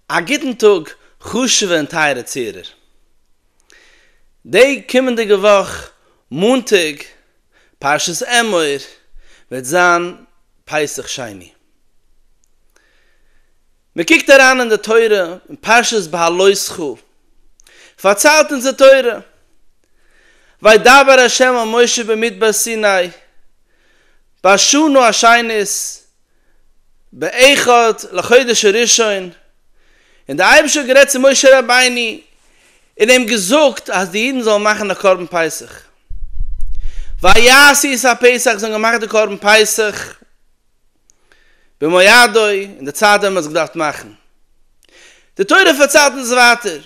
א גוטן טאג חשוב'ע און טייערע צוהערער. די קומענדיגע וואך מאנטאג פרשת אמור וועט זיין פסח שני. מען קוקט אריין אין די תורה אין פרשת בהעלות כו, פארציילט אונז די תורה, וידבר ה' אל משה במדבר סיני, באשנא השנית, באחד לחודש הראשון, און דער אייבערשטער האט גערעדט צו משה רבינו און אים געזאגט אז די אידן זאלן מאכן א קרבן פסח, ויעשו את הפסח, זיי האבן געמאכט די קרבן פסח במועדו, אין די צייט ווען מען האט עס געדארפט מאכן, די תורה פארציילט אונז ווייטער,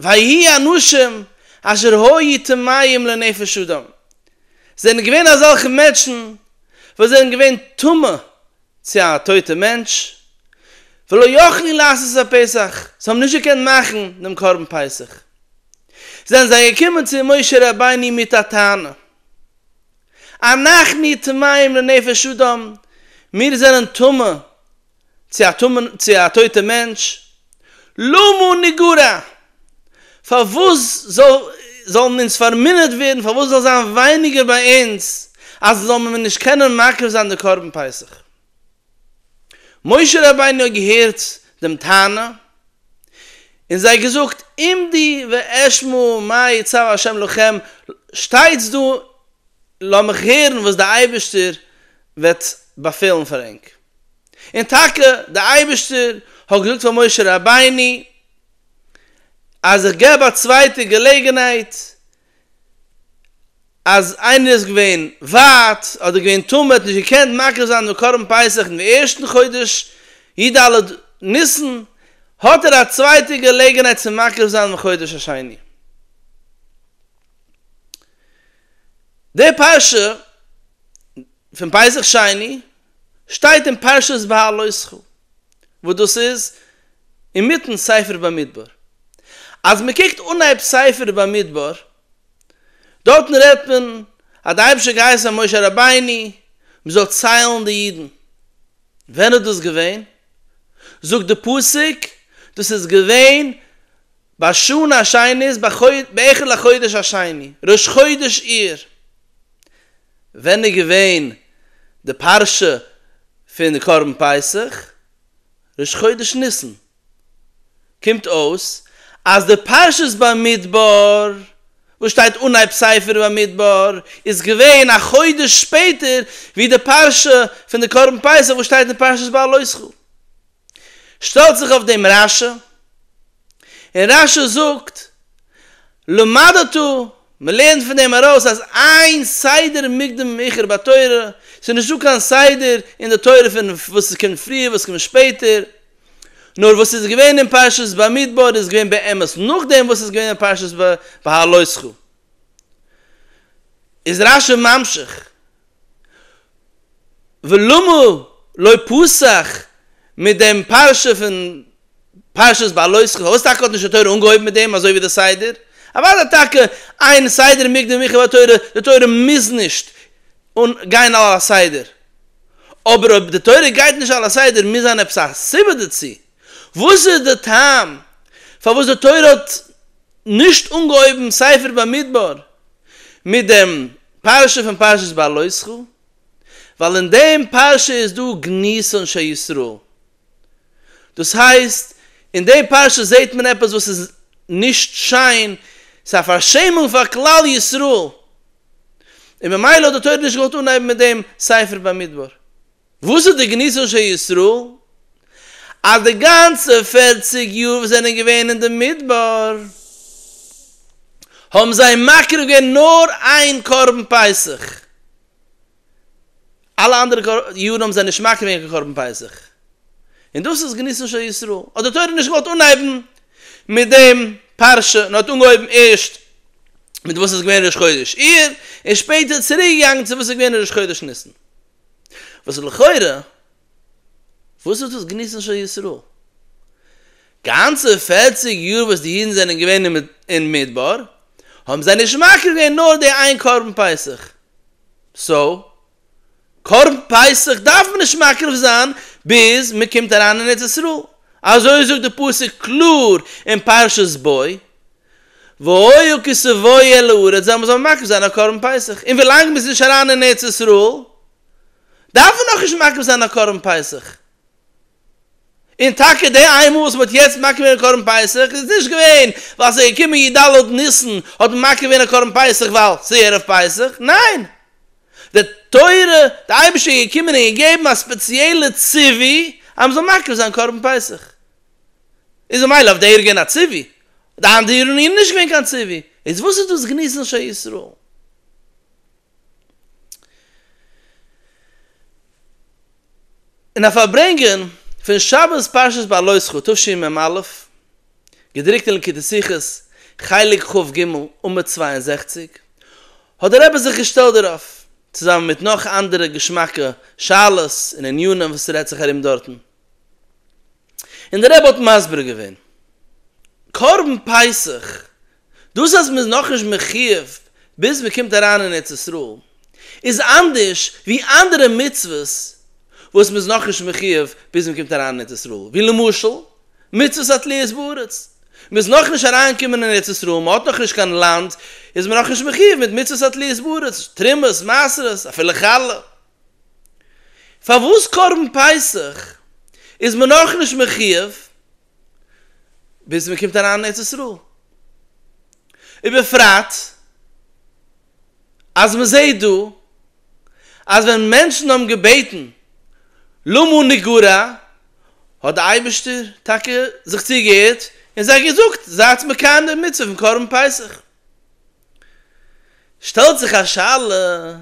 ויהי אנשים אשר היו טמאים לנפש אדם, עס זענען געווען אזעלכע מענטשן, וואס זענען געווען טמא צו א טויטע מענטש, ולא יכלו לעשות את הפסח, זיי האבן נישט געקענט מאכן דעם קרבן פסח, זענען זיי געקומען צו משה רבינו מיט א טענה, אנחנו טמאים לנפש אדם, מיר זענען טמא צו א טויטע מענטש, למה נגרע? פארוואס זאלן אונז פארמינערט ווערן, פארוואס זאל זיין ווייניגער ביי אונז, אז זאל מען נישט קענען מקריב זיין די קרבן פסח? משה רבינו האט געהערט דעם טענה, און זיי געזאגט, עמדי ואשמע מה יצוה השם לכם, שטייטס דא, לאמיך הערן וואס דער אייבערשטער וועט באפעלן פאר ענק. און טאקע דער אייבערשטער האט געזאגט פאר משה רבינו אז איך געב א צווייטע געלעגנהייט אז איינער איז געווען ווייט אדער געווען טמא האט נישט געקענט מקריב זיין דעם קרבן פסח אין די ערשטן חודש י ד ניסן האט ער א צווייטע געלעגנהייט צו מקריב זיין אין חודש השני. די פרשה פון פסח שני. שטייט אין פרשת והעלותך, וואס דאס איז אינמיטן ספר במדבר. אז מען קוקט אנהייב ספר במדבר, דארטן רעדט מען אז דער אייבערשטער האט געהייסן משה רבינו מען זאל ציילן די אידן. ווען איז דאס געווען? זאגט די פסוק, דאס איז געווען. ביי שנה א שני איז באחד לחודש השני, ראש חודש אייר. ווען איז געווען די פרשה פון די קרבן פסח? ראש חודש ניסן. קומט אויס אז די פרשת במדבר וואס שטייט אנהייב ספר במדבר איז געווען א חודש שפעטער ווי די פרשה פון די קרבן פסח וואס שטייט אין פרשת בעלותך. שטעלט זיך אויף דעם רשע, און רשע זאגט, למד אותו, מען לערנט פון דעם ארויס אז איין סדר מוקדם מאוחר בתורה, ס'איז נישט דא קיין סדר אין די תורה פון וואס קומט פריער וואס קומט שפעטער, נאר וואס איז געווען אין פרשת במדבר איז געווען באמת נאכדעם וואס איז געווען אין פרשת בהעלותך. איז רשע ממשיך. ולמה לא פסח מיט דעם פרשה פון פרשת בעלותך, פארוואס טאקע האט נישט די תורה אנגעהויבן מיט דעם אזוי ווי די סדר? אוודאי טאקע איין סדר מוקדם מאוחר ביי תורה, די תורה מוז נישט גיין על הסדר, אבער אויב די תורה גייט נישט על הסדר מוז זיין עפעס א סיבה דערצו, וואס איז די טעם פארוואס די תורה האט נישט אנגעהויבן ספר במדבר מיט דעם פרשה פון פרשת בלותך? ווייל אין דעם פרשה איז דא גניזת אנשי ישראל, דאס הייסט אין דעם פרשה זעט מען עפעס וואס איז נישט שיין, ס'איז א פארשעמונג פאר כלל ישראל, און ממילא האט די תורה נישט געוואלט אנהייבן מיט דעם ספר במדבר. וואס איז די גניזות של ישראל? אז די גאנצע פערציג יאר וואס זענען געווען אין די מדבר האבן זיי מקריב געווען נאר איין קרבן פסח, אלע אנדערע יארן האבן זיי נישט מקריב געווען קיין קרבן פסח, און דאס איז גניזות של ישראל, האט די תורה נישט געוואלט אנהייבן מיט דעם פרשה, און האט אנגעהויבן ערשט מיט וואס איז געווען ראש חודש אייר, און שפעטער צוריק געגאנגען צו וואס איז געווען ראש חודש ניסן. וואס איז לכאורה וואס איז דאס גניזות של ישראל? גאנצע פערציג יאר וואס די אידן זענען געווען אין מדבר האבן זיי נישט מקריב געווען נאר די איין קרבן פסח, סאו קרבן פסח דארף מען נישט מקריב זיין ביז מען קומט אריין אין ארץ ישראל, אזוי זאגט די פסוק קלאר אין פרשת בוא, והיה כי סבוי אל הארץ זאל מען זאל מקריב זיין א קרבן פסח, און ווילאנג מ'איז נישט אריין אין ארץ ישראל דארף מען נאכנישט מקריב זיין א קרבן פסח, און טאקע די איין מאל וואס מ'האט יעצט מקריב געווען א קרבן פסח איז נישט געווען ווייל ס'איז געקומען י ד ניסן האט מען מקריב געווען א קרבן פסח ווייל ס'איז ערב פסח, ניין! די תורה, די אייבערשטער איז געקומען און געגעבן א ספעציעלע ציווי אז מ'זאל מקריב זיין קרבן פסח. איז ממילא אויף דער געווען א ציווי, די אנדערן איז נישט געווען קיין ציווי, איז וואס איז דאס גניז נשי ישראל? אין א פארברענגען פון שבת פרשת בעלותך תשמ א, געדרוקט אין ליקוטי שיחות, חלק ח ג, עמוד צוויי און זעכציק, האט דער רבי זיך געשטעלט דערויף, צוזאמען מיט נאך אנדערע געשמאקע שאלות און ענינים וואס רעדט זיך ארום דארטן. און דער רבי האט מסביר געווען, קרבן פסח, דאס אז מען איז נאכנישט מחיוב ביז מען קומט אריין אין ארץ ישראל, איז אנדערש ווי אנדערע מצוות וואס מען איז נאכנישט מחיוב ביז מען קומט אריין אין ארץ ישראל, ווי למשל, מצוות התליות בארץ, מען איז נאכנישט אריינגעקומען אין ארץ ישראל, מען האט נאכנישט קיין לאנד, איז מען נאכנישט מחיוב מיט מצוות התליות בארץ, תרומות, מעשרות, אפילו חלה. פארוואס קרבן פסח איז מען נאכנישט מחיוב ביז מען קומט אריין אין ארץ ישראל, ובפרט אז מען זעט דא אז ווען מענטשן האבן געבעטן למה נגרע האט די אייבערשטער טאקע זיך צוגעהערט און זיי געזאגט זייטס מקיים די מצוה פון קרבן פסח. שטעלט זיך א שאלה,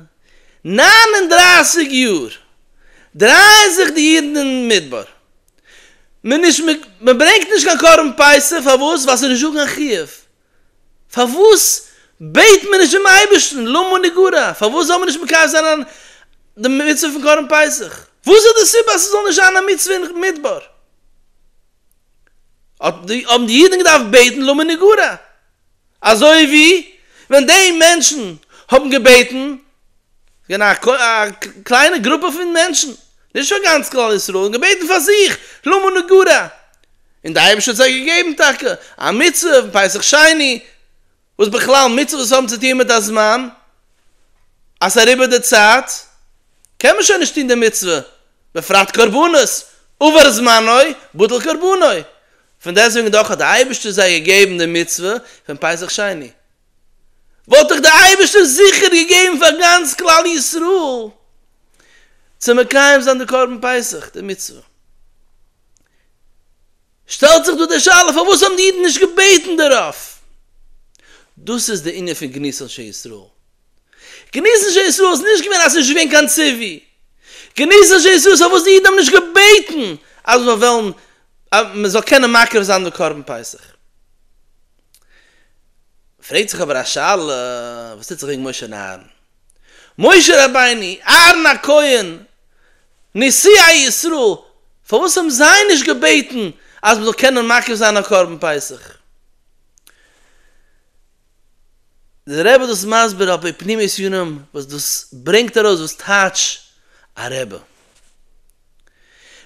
נײַן און דרײַסיק יאר דרייען זיך די אידן אין מדבר, מען נישט מען ברענגט נישט קיין קרבן פסח, פארוואס? ווייל ס'איז נישטא קיין חיוב, פארוואס בעט מען נישט דעם אייבערשטן למה נגרע, פארוואס זאל מען נישט מקיים זיין די מצוה פון קרבן פסח, וואס איז די סיבה אז ס'זאל נישט זיין א מצוה אין מדבר, האבן די אידן געדארפט בעטן למה נגרע. אזוי ווי ווען די מענטשן האבן געבעטן, געווען א קליינע גרופע פון מענטשן, נישט פאר גאנץ כלל ישראל, און געבעטן פאר זיך, למה נגרע, און די אייבערשטער האט זיי געגעבן טאקע א מצוה פון פסח שני, וואס בכלל מצוות האבן צו טון מיט א זמן, אז ס'איז אריבער די צייט, קען מען שוין נישט טון די מצוה. בפרט קרבנות, עבר זמנו בטל קרבנו, פון דעסוועגן דאך האט דער אייבערשטער זיי געגעבן די מצוה פון פסח שני, וואלט דאך דער אייבערשטער זיכער געגעבן פאר גאנץ כלל ישראל צו מקיים זיין די קרבן פסח, די מצוה. שטעלט זיך דא די שאלה פארוואס האבן די אידן נישט געבעטן דערויף? דאס איז די ענין פון גנות אנשי ישראל. גנות אנשי ישראל איז נישט געווען אז ס'איז נישט געווען קיין ציווי. גנות אנשי ישראל איז פארוואס די אידן האבן נישט געבעטן אז מיר וועלן אז מען זאל קענען מקריב זיין די קרבן פסח. פרעגט זיך אבער א שאלה, וואס טוט זיך וועגן משה און אהרן? משה רבינו, אהרן הכהן, נשיאי ישראל, פארוואס האבן זיי נישט געבעטן אז מ'זאל קענען מקריב זיין א קרבן פסח? דער רבי האט דאס מסביר על פי פנימיות יונים וואס דאס ברענגט ארויס וואס טייטש א רבי.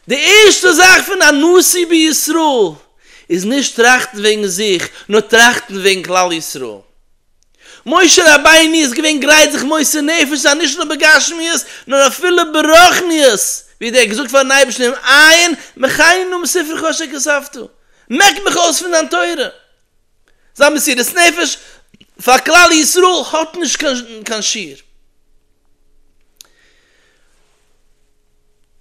די ערשטע זאך פון א נשיא בישראל איז נישט טראכטן וועגן זיך, נאר טראכטן וועגן כלל ישראל. משה רבינו איז געווען גרייט זיך מוסר נפש זיין נישט נאר בגשמיות נאר אפילו ברוחניות, ווי ער האט געזאגט פארן אייבערשטן אין עיין מחיינו מספרך אשר כספתו, מעק מיך אויס פון דיין תורה. זיין מסירות נפש פאר כלל ישראל האט נישט קיין שיעור.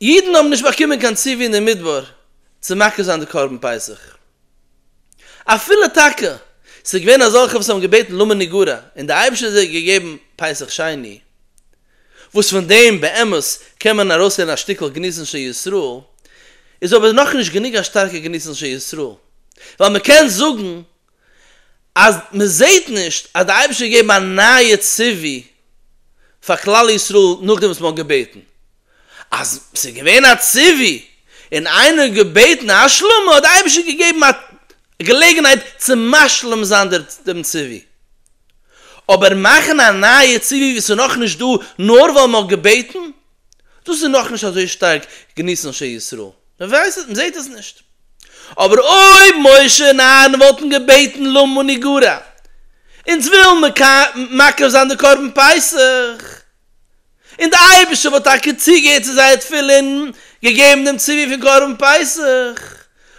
אידן האבן נישט באקומען קיין ציווי אין די מדבר צו מקריב זיין די קרבן פסח. אפילו טאקע ס'איז געווען אזעלכע וואס האבן געבעטן למה נגרע און דער אייבערשטער האט זיי געגעבן פסח שני, וואס פון דעם באמת קען מען ארויסהערן א שטיקל געניסן של ישראל, איז אבער נאכנישט גענוג א שטארקע געניסן של ישראל, ווייל מען קען זאגן אז מען זעט נישט אז דער אייבערשטער האט געגעבן א נייע ציווי פאר כלל ישראל נאכדעם וואס מען האט געבעטן. אז ס'איז געווען א ציווי און איינער האט געבעטן א השלמה האט די אייבערשטער געגעבן א געלעגנהייט צו משלים זיין דעם ציווי, אבער מאכן א נייע ציווי וואס איז נאכנישט דא נאר ווייל מ'האט געבעטן, דאס איז נאכנישט אזוי שטארק געניסן אנשי ישראל, מ'זעט עס נישט. אבער אויב משה און אהרן וואלטן געבעטן למה נגרע, אונז ווילן מקריב זיין די קרבן פסח, און דער אייבערשטער וואלט טאקע צוגעהערט צו זייער תפילה און געגעבן דעם ציווי פון קרבן פסח,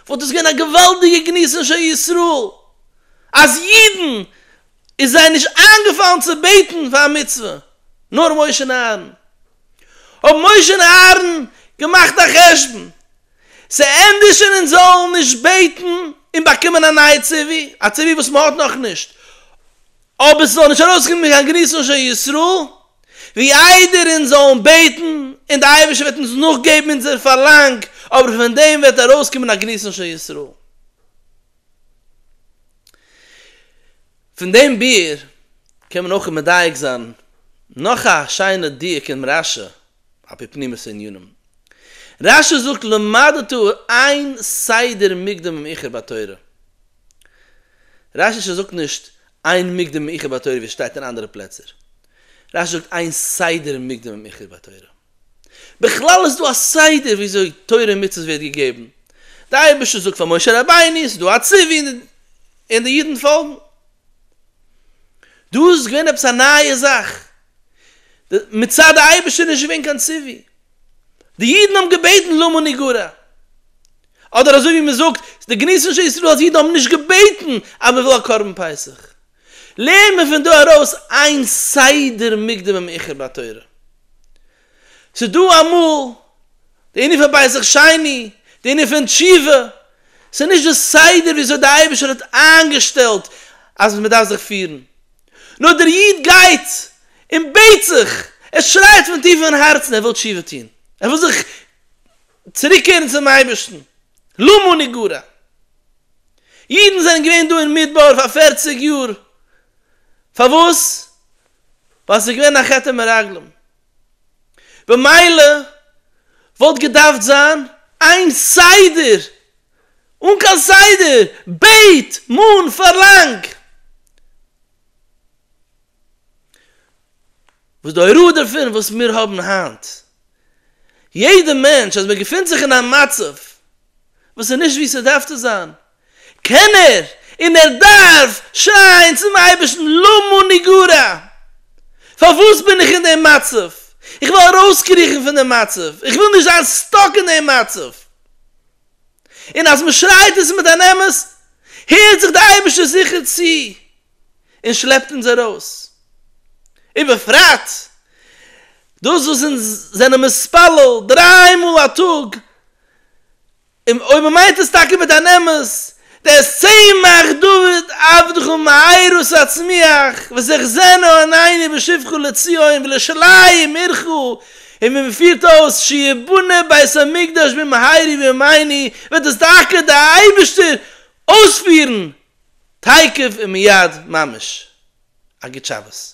וואלט דאס געווען א געוואלדיגע גנות אנ ש ישראל, אז אידן איז זיי נישט איינגעפאלן צו בעטן פאר א מצוה, נאר משה און אהרן. האבן משה און אהרן געמאכט א חשבון, ס'ענדיגט שוין אונז זאלן נישט בעטן און באקומען א נייע ציווי, א ציווי וואס מ'האט נאכנישט, אויב עס איז נאך נישט ארויסגעקומען קיין גריס אנ ש ישראל, ווי איידער אונז זאלן בעטן, און דער אייבערשטער וועט אונז נאכגעבן אונזער פארלאנג, אבער פון דעם וועט ארויסקומען א גריס אנ ש ישראל. פון דעם ביאור קען מען אויך מדייק זיין נאך א שיינע דיוק אינעם רש י על פי פנימיות הענינים. רש י זאגט למדתו אין סדר מוקדם אום עיקר בתורה. רש ש זאגט נישט איין מוקדם עם עיקר בתורה ווי עס שטייט אין אנדערע פלעצער, רש ש זאגט איין סדר מוקדם עם עיקר בתורה. בכלל איז דא א סדר וויאזוי תורה און מצוות ווערט געגעבן, די אייבערשטער זאגט פאר משה רבינו, ס'איז דא א ציווי און די אידן פאלגן. דא איז געווען עפעס א נייע זאך, מצד די אייבערשטער איז נישט געווען קיין ציווי, די אידן האבן געבעטן למה נגרע. אדער אזוי ווי מען זאגט די גניזישע ישראל אז אידן האבן נישט געבעטן אז מען וויל א קרבן פסח, לערנט מען פון דא ארויס איין סדר מוקדם ומאוחר בתורה, ס'איז דא אמאל די ענין פון פסח שני, די ענין פון תשובה, ס'איז נישט די סדר ווי אזוי די אייבערשטער האט איינגעשטעלט אז מען דארף זיך פירן, נאר דער איד גייט און בעט זיך, ער שרייט פון טיפן הארצן ער וויל תשובה טון, ער וויל זיך. צוריקקערן צום אייבערשטן, למה נגרע? אידן זענען געווען דא אין מדבר פאר פֿערציק יאר, פארוואס? ווייל ס'איז געווען א חטא מרגלים, במילא וואלט געדארפט זיין איין סדר, אן קיין סדר, בעט, מאן, פארלאנג. וואס די הוראה דערפון וואס מיר האבן היינט, יעדע מענטש אז מען געפינט זיך אין א מצב וואס איז נישט ווי ס'דארף צו זיין, קען ער און ער דארף שרייען צום אייבערשטן למה אני גרע, פארוואס בין איך אין דעם מצב, איך וויל ארויסקריכן פון דעם מצב, איך וויל נישט זיין סטאק אין דעם מצב, און אז מען שרייט עס מיט אן אמת, הערט זיך די אייבערשטער זיכער צו, און שלעפט אונז ארויס, ובפרט דאס וואס אונז זענען מתפלל דריי מאל א טאג, און אויב מען מיינט עס טאקע מיט אן אמת, דער צמח דוד עבדך מהירות הצמיח ותחזינה עינינו בשובך לציון ולשליים עירך, און ווי מען פירט אויס שיבנה בית המקדש במהרי בימינו, וועט עס טאקע דער אייבערשטער אויספירן תיכף ומיד ממש א גוט שבת.